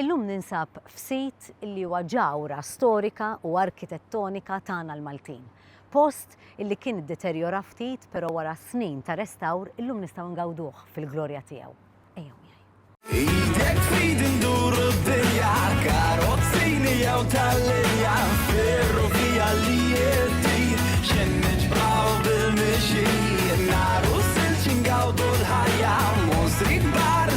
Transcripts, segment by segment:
Illum ninsab f'sit li huwa ġawhra storika u arkitettonika tagħna l-Maltin. Post li kien iddeterjora ftit però wara snin ta' restawr illum nistgħu ngawduh fil-glorja tiegħu. Ejjew miegħi. Idek f'idi nduru d-dinja, karozzini jew tal-linja, ferrovija li jeddi, xejn niġbraw bil-mixi, naru silċi ngawdu l-ħajja, mosri kbar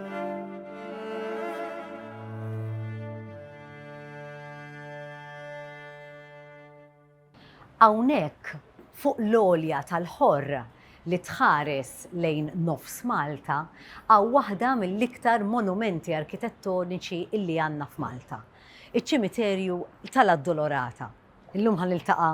Hawnhekk, fuq l-għolja tal-Ħorr li tħares lejn nofs Malta, hawn waħda mill-iktar monumenti arkitettoniċi illi għandna f'Malta, iċ-Ċimiterju tal-Addolorata. Illum ħa niltaqa'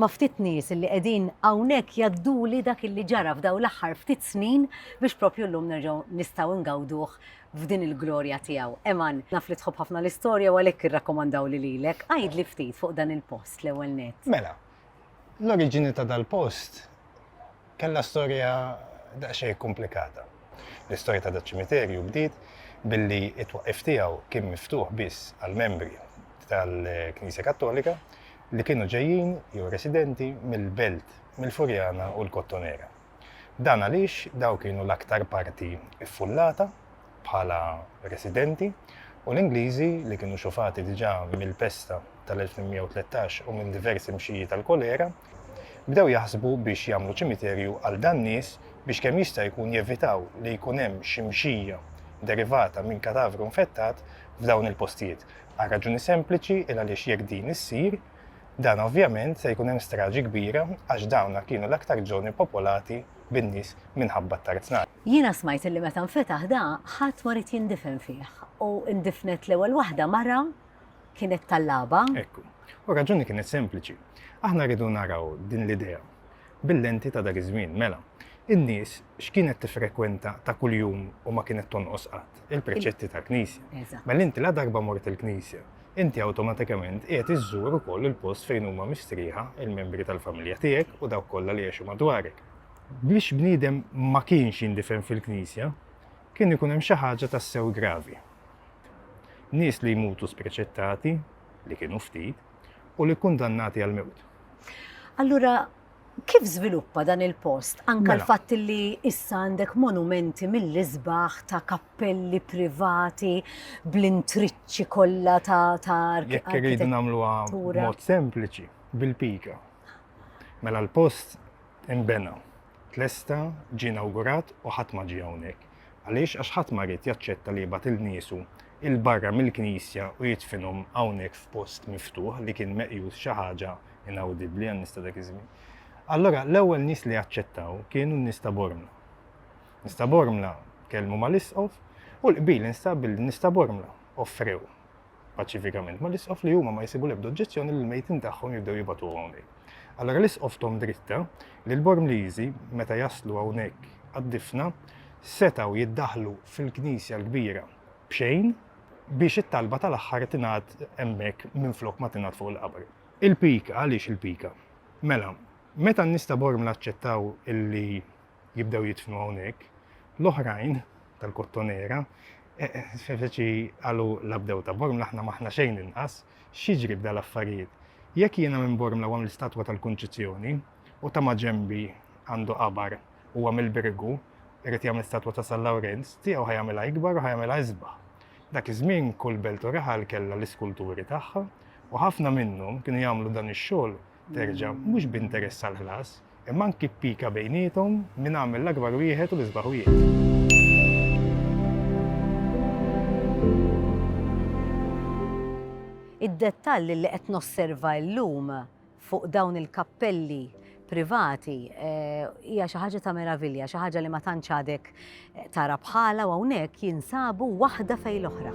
ma' ftit nies illi qegħdin hawnhekk jgħadduli dak illi ġara f'dawn l-aħħar ftit snin biex propju llum nerġgħu nistgħu ngawduh f'din il-glorja tiegħu. Eman, naf li tħobb ħafna l-istorja u għalhekk irrakkomandawli lilek. Għidli ftit fuq dan il-post l-ewwel nett. Mela, l-oriġini ta' dal-post kellha storja daqsxejn komplikata. L-istorja ta' daċ-ċimiterju bdiet billi t-twaqqif tiegħu kien miftuħ biss għall-membri tal-Knisja Kattolika li kienu ġejjin jew residenti mill-belt mill-Furjana u l-Kottonera. Dan għaliex dawn kienu l-aktar parti ffullata bħala residenti, u l-Ingliżi, li kienu xufati diġà mill-pesta tal-1813 u minn diversi mxiji tal-kolera, bdew jaħsbu biex jagħmlu ċimiterju għal dan-nies biex kemm jista' jkun jevitaw li jkun hemm xi mxija derivata minn katavru infettat f'dawn il-postijiet, għal raġuni sempliċi il għaliex jekk din issir, Dan ovvjament se jkun hemm straġi kbira għax dawna kienu l-aktar żoni popolati bin-nies minħabba t-tarznat. Jiena smajt illi meta nfetaħ da ħadd ma ried jindifen fih u ndifnet l-ewwel waħda mara kienet tal-laba. Ekku. U r-raġuni kienet sempliċi. Aħna rridu naraw din l-idea bil-lenti ta' dak iż-żmien. Mela, in-nies x'kienet tiffrekwenta ta' kuljum u ma kienet tonqos qatt? Il-preċetti tal-knisja. Mela inti la darba mort il-knisja, Inti awtomatikament qiegħed iżżur ukoll il-post fejn huma mistrieħa l-membri tal-familja tiegħek u dawk kollha li jgħixu madwarek. Biex bniedem ma kienx jindifen fil-knisja, kien ikun hemm xi ħaġa tassew gravi. Nies li jmutu spreċettati, li kienu ftit, u li kkundannati għall-mewt. Allura, Kif żviluppa dan il-post anke Mela. l-fatt li issa għandek monumenti mill-isbaħ ta' kappelli privati bl-intriċċi kollha ta' ta' arki- Jekk irridu arkitet- nagħmluha arkitettura. b'mod sempliċi, bil-pika. Mela l-post inbena, tlesta, ġie inawgurat u ħadd ma ġie hawnhekk. Għaliex? Għax ħadd ma ried jaċċetta li jibgħat lil niesu 'il barra mill-knisja u jidfinhom hawnhekk f'post miftuħ li kien meqjus xi ħaġa inawdibbli għan-nies ta' dak iż-żmien. Allura l-ewwel nies li aċċettaw kienu n-nies ta' Bormla. Nies ta' Bormla kelmu mal-isqof u l-qbil instab billi n-nies ta' Bormla offrew paċifikament ma l-isqof li huma ma jisibu l-ebda oġġezzjoni li l-mejtin tagħhom jibdew jibatu hawnhekk. Allora l-isqof Tom Dritta li l-Bormliżi meta jaslu hawnhekk għad-difna setaw jiddaħlu fil-knisja l-kbira b'xejn biex it-talba tal-aħħar tingħad hemmhekk minflok ma tingħad fuq il-qabr. Il-pika, għaliex il-pika? Mela, meta n-nies ta' Bormla aċċettaw illi jibdew jidfnu hawnhekk, l-oħrajn tal-Kottonera feċi għalu labdew ta' Bormla aħna maħna xejn inqas, x'jiġri b'dal affarijiet? Jekk jiena minn Bormla għam l-istatwa tal-Kunċizzjoni u ta' maġembi għandu qabar u għam il-birgu irrid jagħmel statwa ta' San Lawrenz, tiegħu ħajamilha ikbar u ħajamilha isbaħ. Dak iż-żmien kull belt u raħal kellha l-iskulturi tagħha u ħafna minnhom kienu jagħmlu dan ix-xogħol, terġa', mhux b'interess għall-ħlas, imma anki b'pika bejniethom min għamel l-akbar wieħed u l-isbaħ wieħed. Id-dettall li qed nosserva llum fuq dawn il-kappelli privati hija xi ħaġa ta' meravilja, xi ħaġa li ma tantx għadek tara bħala u hawnhekk jinsabu waħda fejn l-oħra.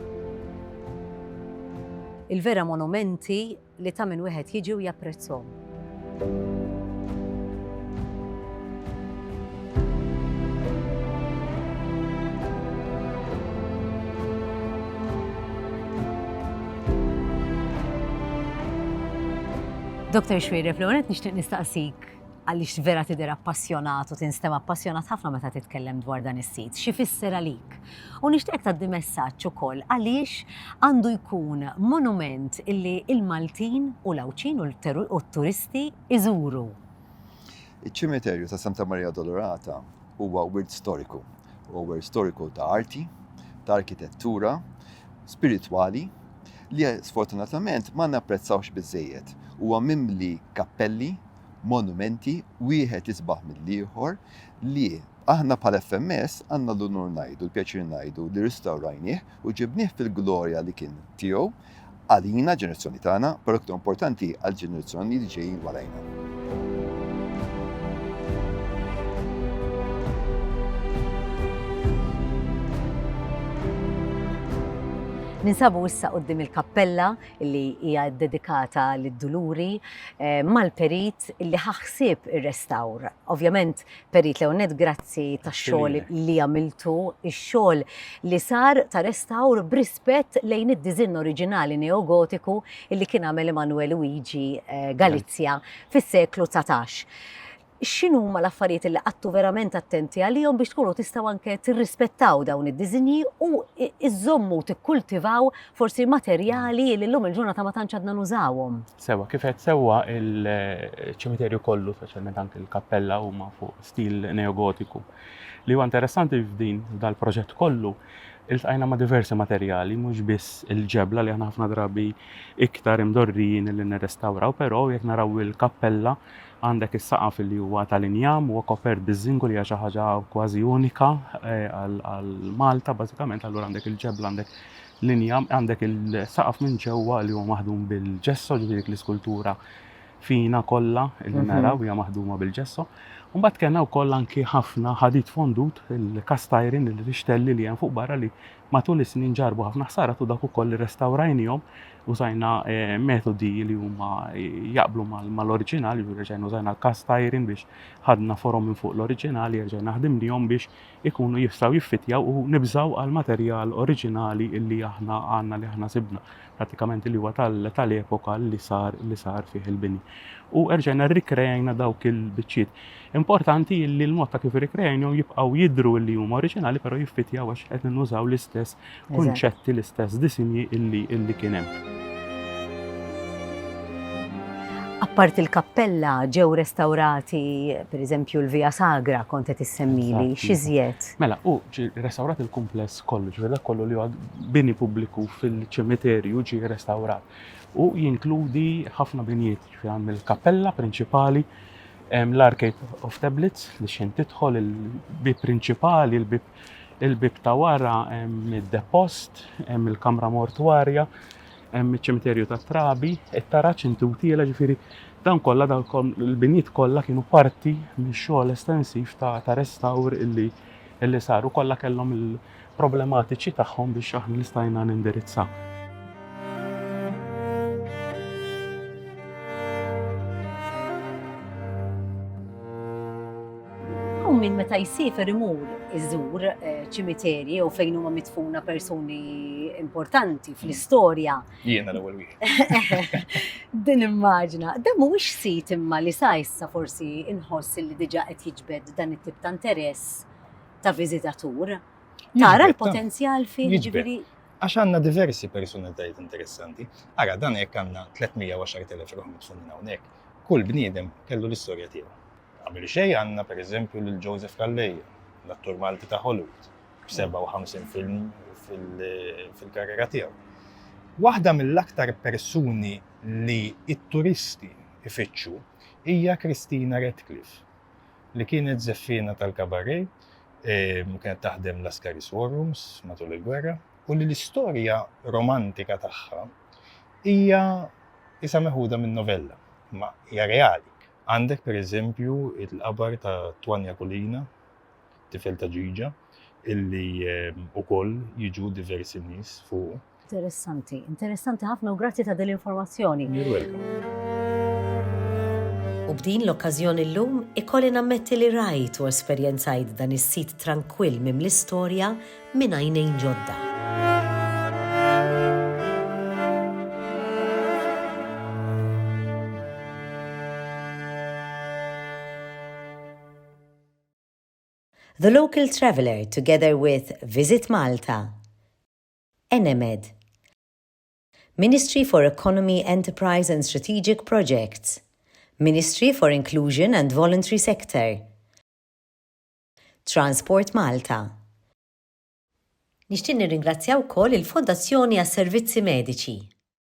Il-vera monumenti li ta' min wieħed jiġi u japprezzhom. Dr. Xwiri, fl-għonet nixtieq nistaqsik għaliex vera tidher appassjonat u tinstem appassjonat ħafna meta titkellem dwar dan is-sit. Xi fisser għalik? U nixtieq tgħaddi messaġġ ukoll għaliex għandu jkun monument illi il-Maltin u l-Għawdxin u t-turisti iżuru. Iċ-Ċimiterju ta' Santa Maria Addolorata huwa wirt storiku. Huwa wirt storiku ta' arti, ta' arkitettura, spiritwali li sfortunatament ma napprezzawx biżżejjed. Huwa mimli kappelli, monumenti, wieħed isbaħ mill-ieħor li Aħna bħala FMS għandna l-unur ngħidu, l-pjaċir ngħidu li ristawrajnieh u ġibnieh fil-glorja li kien tiegħu għalina, l-ġenerazzjoni tagħna, però iktar importanti għall-ġenerazzjoni li ġejjin warajna. Ninsabu issa qoddim il-kappella li hija dedikata lid-duluri eh, mal-perit li ħaħsib ir-restawr. Ovvjament Perit Leonet, grazzi tax xogħol li għamiltu, ix-xogħol li sar ta' restawr b'rispett lejn id-diżinn oriġinali neogotiku li kien għamel Emanuel Luigi eh, Galizja fis-seklu 19. X'inhu ma l-affarijiet li qattu verament attenti għalihom biex tkunu tistgħu anke tirrispettaw dawn id-diżinji u iżommu tikkultivaw forsi materjali li llum il-ġurnata ma tantx għadna nużawhom. Sewwa, kif għedt sewwa, il-ċimiterju kollu, speċjalment anke l-kappella huma fuq stil neogotiku. Li huwa interessanti f'din dal-proġett kollu, iltqajna ma' diversi materjali, mhux biss il-ġebla li aħna ħafna drabi iktar imdorrijin li nirrestawraw, però jekk naraw il-kappella għandek is-saqaf li huwa tal-injam, huwa kopert biż-żingu li hija xi ħaġa kważi unika eh, għal Malta bażikament, allura għandek il-ġebla għandek linja għandek il-saqaf minn ġewwa li huwa maħdum bil-ġesso, ġifieri dik l-iskultura fina kollha li mhm. naraw hija maħduma bil-ġesso. Mbagħad kellna wkoll anki ħafna ħadid fondut il-kastajrin il-rixtelli li hemm fuq barra li matul is-snin ġarbu ħafna ħsara tu dak ukoll irrestawrajnihom użajna eh, metodi li huma eh, jaqblu mal-oriġinali, reġajna użajna l-kastajrin biex ħadna forom minn fuq l-oriġinali, reġajna ħdimnihom biex ikunu jistgħu jiffittjaw u nibżgħu għall-materjal oriġinali li aħna għandna li aħna sibna prattikament li huwa tal-epoka li sar li sar fih il-bini. U erġajna rrikrejajna dawk il-biċċiet. Importanti li l-mod ta' kif irrikrejajnhom jibqgħu jidru li huma oriġinali però jiffittjaw għax qed nużaw l-istess kunċetti l-istess disinji illi illi kien hemm. Apparti l-kappella ġew restawrati pereżempju l-Via Sagra kont qed issemmili, xi żjed? Mela, u restawrat il-kumpless kollu, ġifier dak kollu li huwa bini pubbliku fil-ċimiterju ġie restawrat. U jinkludi ħafna binjiet, ġifier għand il-kappella prinċipali, l-Arcade of Tablets li xejn tidħol il-bib prinċipali, il-bib Il-bieb ta' wara hemm id-depost, hemm il-kamra mortwarja, hemm iċ-ċimiterju tat-trabi, it-taraġ intutiela ġifieri dan kollha dan il-binjiet kollha kienu parti mix-xogħol estensiv ta' ta' restawr illi illi saru kollha kellhom il-problematiċi tagħhom biex aħna nistajna nindirizza. Hawn min meta jsiefer imur iżur eh, ċimiterji u fejn huma mitfuna persuni importanti fl-istorja. Jiena l-ewwel wieħed. Din immaġna, dan mhuwiex sit imma li sa issa forsi inħoss li diġà qed jiġbed dan it-tip ta' interess ta' viżitatur. Tara l-potenzjal fih ġifieri. Għax għandna diversi personalitajiet interessanti. Ara dan jekk għandna 310,000 ruħ mitfunin hawnhekk, kull bniedem kellu l-istorja tiegħu. Qabel xejn għandna pereżempju lil Joseph Calleja, l-attur Malti ta' Hollywood, b'57 film fil-karriera tiegħu. Waħda mill-aktar persuni li t-turisti jfittxu hija Christina Radcliffe, li kienet żeffiena tal-cabaret, kienet taħdem Lascaris War Rooms matul il-gwerra, u li l-istorja romantika tagħha hija qisha meħuda minn novella, imma hija reali. Għandek per eżempju il-khabar ta' Twania Kulina, tifel ta' Ġiġa, illi ukoll jiġu diversi nies fuqu. Interessanti, interessanti ħafna u grazzi ta' din l-informazzjoni. You're welcome. U b'din l-okkażjoni llum ikolli nammetti li rajt u esperjenzajt dan is-sit trankwill mimli storja minn għajnejn ġodda. The Local Traveller together with Visit Malta, Enemed, Ministry for Economy, Enterprise and Strategic Projects, Ministry for Inclusion and Voluntary Sector, Transport Malta. Nixtieq nirringrazzja wkoll il-Fondazzjoni għas-Servizzi Mediċi.